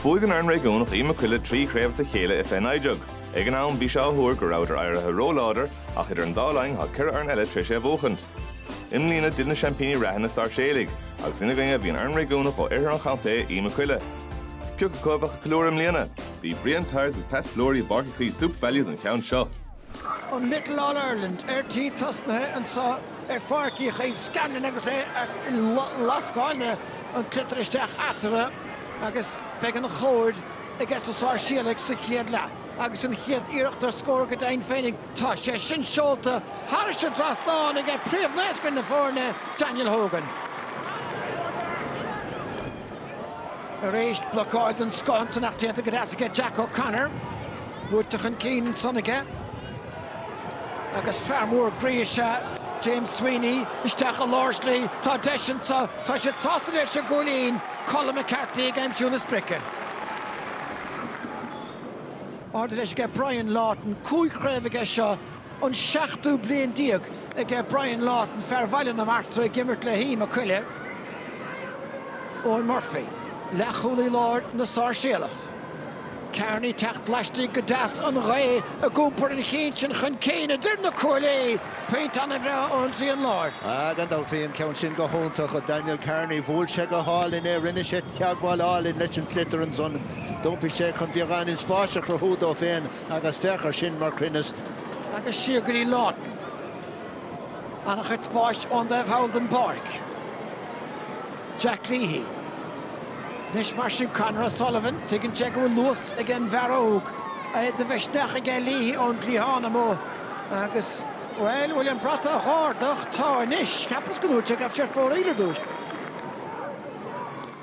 Bhuaigh an fhoireann réigiúnach Uí Mac Coille trí chraobh as a chéile i fiche naoi déag. Ag an am, bhí sé á thuar go rabhadar éirithe ró-láidir, ach idir an dá linn, tá ceithre fhoireann eile tar éis é a bhuachaint. I mbliana, d'fhill na seaimpíní reatha, na Sáirséalaigh, agus ina gcoinne bhí an fhoireann réigiúnach ó oirthear an chontae, Uí Mac Coille. Ciocu acu a bheadh ag ceiliúradh i mbliana. Bhí Brian Tyers agus Pat Fleury i bPáirc Uí Chaoimh SuperValu don cheann seo. an Little All Ireland ar tí tosnaithe anso ar Pháirc Uí Chaoimh Scanlon agus é a lascáil an sliotar isteach eatarthu agus beidh an chóir aiges na Sáirséalaigh sa chéad leath agus an chéad iarracht ar scór go deimhin féinig. Tá sé sin seolta thairis an dtrasnán aige príomhnaoscaire na foirne, Daniel Hogan. Arís blocáil den scoth ansan ach déanta go deas aige Jack O'Connor. Ruaigthe chun cinn ansan aige agus fear mór groí is ea James Sweeney. Isteach i lár slí, tá deis anseo, tá siad sásta leis an gcúilín. Colm McCarthy ag aimsiú na sprice. Ardaithe leis aige Brian Lawton, cúig chraobh aige seo, an seachtú bliain déag aige Brian Lawton, fear Bhaile na Martra ag imirt le hUí Mac Coille. Eoghan Murphy, leathchúlaí láir na Sáirséalach. Kearney ag teacht laistigh go deas an ghaoth ag iompar an chinn sin chun cinn idir na cuaillí. Pointe ana bhreá ón dtrian láir. Ah gan dabht bhí an ceann sin go hiontach ó Daniel Kearney. Bhuail sé go hálainn é, rinne sé teagmháil álainn leis an sliotar ansan. D'iompaigh sé chun beagáinín spáis a chruthú dó féin agus féach ar sin mar chruinneas. Agus siar go dtí Lawton. An-chuid spáis ón dtaobh thall den bpáirc. Jack Leahy. Anois mar sin Conor O'Sullivan, tuigeann sé go bhfuil luas ag an bhfear óg. Bhí de mhisneach aige Leahy ón gcliathán amuigh agus, bhuel, bhfuil an brat á dh'ardach? Tá anois! Cheapas go ndúirt sé go raibh sé ar fóraoil ar dtúis.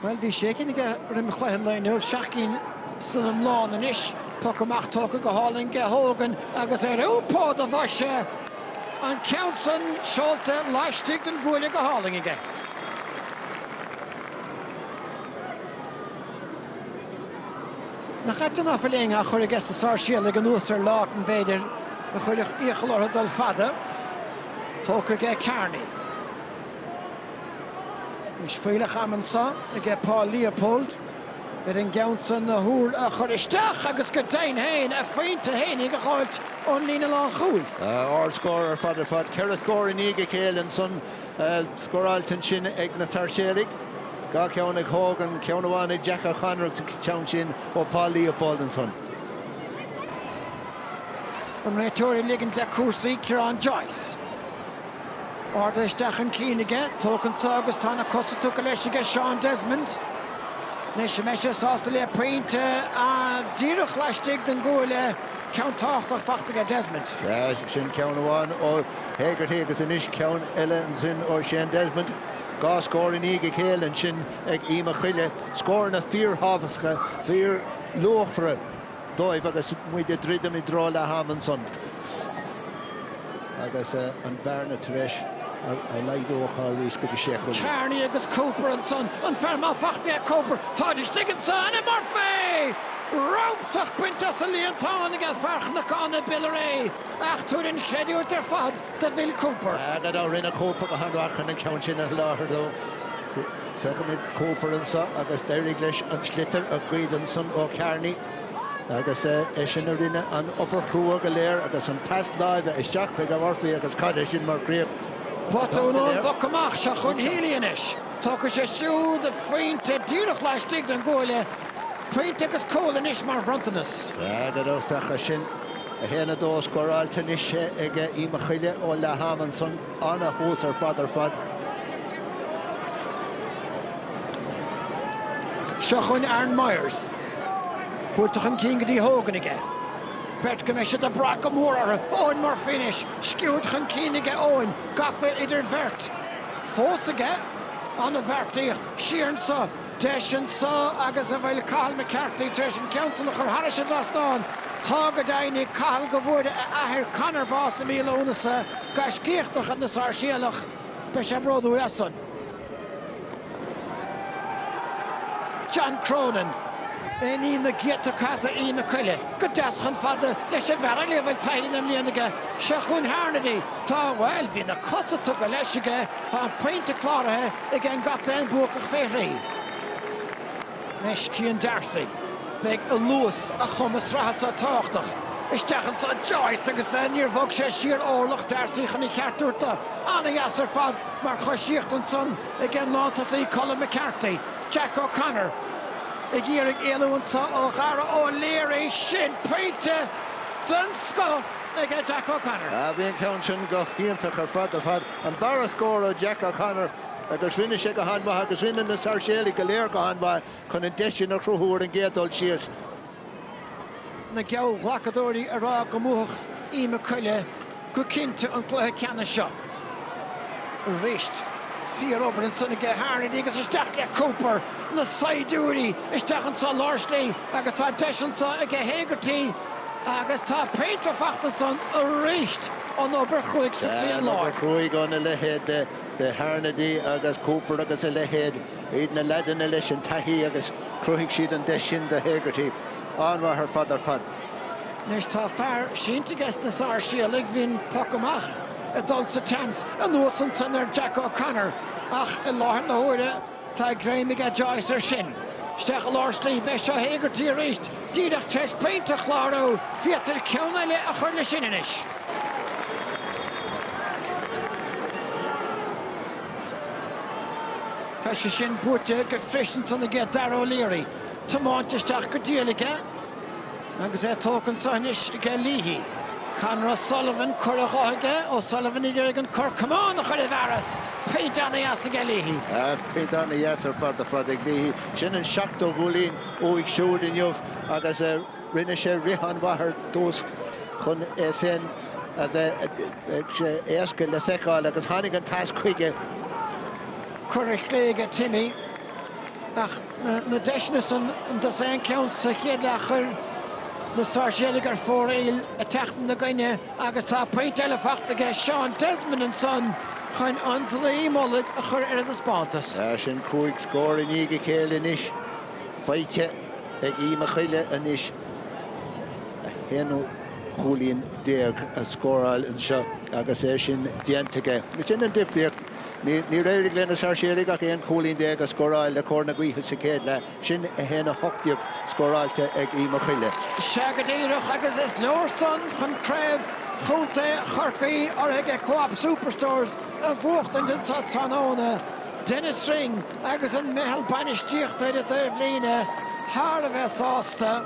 Bhuel, bhí sé cinn aige roim chluiche an lae inniu, seacht gcinn san iomlán anois. Poc amach tógtha go hálainn aige Hogan agus ar iompó do bhoise an ceann san seolta laistigh den gcuaille go hálainn aige. Nach ait nach bhfuil éinne curtha aiges na Sáirséalaigh anuas ar Lawton, b'fhéidir, a chuirfeadh iachall orthu dul fada. Tógtha aige Kearney. Is fuílleach am anseo aige Paul Leopold ar an gceann sin na huair a chur isteach agus go deimhin féin a phointe fhéinig a dh'fháilt ón líne lánchúil. Ardscór ar fad ar fad. Ceithre scór i ndiaidh a chéile ansan scóráilte ansin ag na Sáirséalaigh. Dhá cheann ag Hogan, ceann amháin ag Jack O'Connor agus an ceann sin ó Paul Leopold ansan. An réiteoir ag ligint do chúrsaí, Ciarán Joyce. Ardaithe isteach chun cinn aige, tóg anseo agus tá na cosa tugtha leis aige Seán Desmond. Anois an mbeidh sé sásta le pointe díreach laistigh den gcuaille, ceann tábhachtach faighte aige Desmond. Sin ceann amháin ó Hegarty agus anois ceann eile ansin ó Sheán Desmond. Dhá scór i ndiaidh a chéile ansin ag Uí Mac Coille, scóranna fíorthábhachtacha, fíorluachmhara. dóibh agus muid ag druidim i dtreo leath ama ansan agus an bhearna tar éis a laghdú athuair arís go dtí sé chúilín. Kearney agus Cooper ansan, an fear maith faighte aige Cooper, táid istigh ansan i Murphy! Rabhadh bainte as an líontán ag fear Chnocán na Biolraí ach tabhair an chreidiúint ar fad do Bhill Cooper. Gan dabht rinne Cooper go han-mhaith chun an ceann sin a sholáthar dó. Feicimid Cooper anseo agus d'éirigh leis an sliotar a ghoid ansan ó Kearney agus eisean a rinne an obair chrua go léir agus an pas láimhe isteach chuig Murphy agus cad é sin mar chríoch. Botún ón bpoc amach, seo chugainn Healy anois. Tógfaidh sé siúd a phointe díreach laistigh den gcuaille. Pointe agus cúl anois mar bhronntanas. Airgead ó Fearghas sin. 1 2 scóráilte anois ag Uí Mac Coille ó leath ama ansan, an-thús ar fad ar fad. Seo chugainn Aaron Myers. Buailte chun cinn go dtí Hogan aige. Beirt go mbeidh siad ag brath go mór orthu. Eoghan Murphy anois. Sciúird chun cinn aige Eoghan. Gafa idir bheirt fós aige. An-bheartaíocht. Siar anseo. deis anso agus an bhfuil Cathal McCarthy tar éis an ceann san a chur thairis an dtrasnán. Tá go deimhin, Cathal, go bhfuair a athair Conor bás i mí Lúnasa, gaiscíoch de chuid na Sáirséalach. Beidh sé bródúil as san. John Cronin, i ndiaidh na gcéadta cath do Uí Mac Coille go deas chomh fada leis an bhfear eile a bhfuil taithí na mblian aige, seo chugainn Harnedy. Tá, bhuel, bhí na cosa tugtha leis aige, tá an pointe cláraithe. ag an gcaptaen buacach faoi thrí. Anois Cian Darcy. Beidh a luas, a chumas reatha so tábhachtach. Isteach anso Joyce agus níor bhog sé siar orlach, Darcy chun a cheart a thabhairt dó. Ana-dheas ar fad mar choisíocht ansan ag an lántosaí Colm McCarthy. Jack O'Connor ag iarraidh éalú anso ó Dhaire O'Leary. Sin pointe den scoth ag Jack O'Connor. Bhí an ceann sin go hiontach ar fad ar fad. An dara scór ó Jack O'Connor agus rinne sé go han-mhaith agus rinne na Sáirséalaigh go léir go han-mhaith chun an deis sin a chruthú ar an gcéad dul síos. na geallghlacadóirí ag rá go mbuafadh Uí Mac Coille go cinnte an cluiche ceannais seo. Arís, fíorobair ansan aige Harnedy agus isteach le Cooper, na saighdiúirí isteach anso lár slí agus tá deis anso aige Hegarty, Agus tá pointe fachta ansan arís an obair chruaidh sa tslí an láir. An obair chruaidh óna leithéid de Harnedy agus Cooper agus a leithéid. Iad na leaideanna leis an taithí agus chruthaigh siad an deis sin do Hegarty. An-mhaith ar fad ar fad. Anois tá fear sínte aige sna Sáirséalaigh, bhí an poc amach ag dul sa tsiúl anuas ansan ar Jack O'Connor ach i láthair na huaire, Tá greim aige Joyce air sin. Isteach i lár slí b'é seo Hegarty arís díreach tar éis pointe a chlárú. Féadtar ceann eile a chur leis sin anois. Tá sé sin buaite go feiceann san aige Dara O'Leary. Tiomáint isteach go diail aige. Agus é tógtha anseo anois aige Leahy. Conor O'Sullivan, cor i dheis aige, O'Sullivan ag iarraidh an camán a chur i bhfearas, pointe an-dheas aige Leahy. Ach pointe an-dheas ar fad ar fad ag Leahy. Sin an seachtú cúilín uaidh siúd inniu agus rinne sé rith an-mhaith ar dtús chun é féin a bheith éasca le feiceáil agus tháinig an pas chuige. Cor i gclé aige Timmy. Ach na deiseanna san dosaen ceann sa chéad leath chuir na Sáirséalaigh ar fóraoil ag teacht ina gcoinne agus tá pointe eile faighte aige Seán Desmond ansan chun an dlaoi mullaigh a chur ar a dtaispeántas. Tá sin cúig scór i ndiaidh a chéile anois. Faighte ag Uí Mhac Coille anois 11 chúilín a scóráil anseo agus é sin déanta aige. Ó sin an difríocht. Níor éirigh leis na Sáirséalaigh ach 11 cúilín a scóráil le cóir na gaoithe sa chéad leath, sin 1-18 scóráilte ag Uí Mhac Coille. Sea go díreach agus is leor san chun craobh chontae Chorcaí urraithe ag Co-Op Superstores a bhuachtaint an tráthnóna. Denis Ring agus an meitheal bainistíochta ar an dtaobhlíne thar a bheith sásta.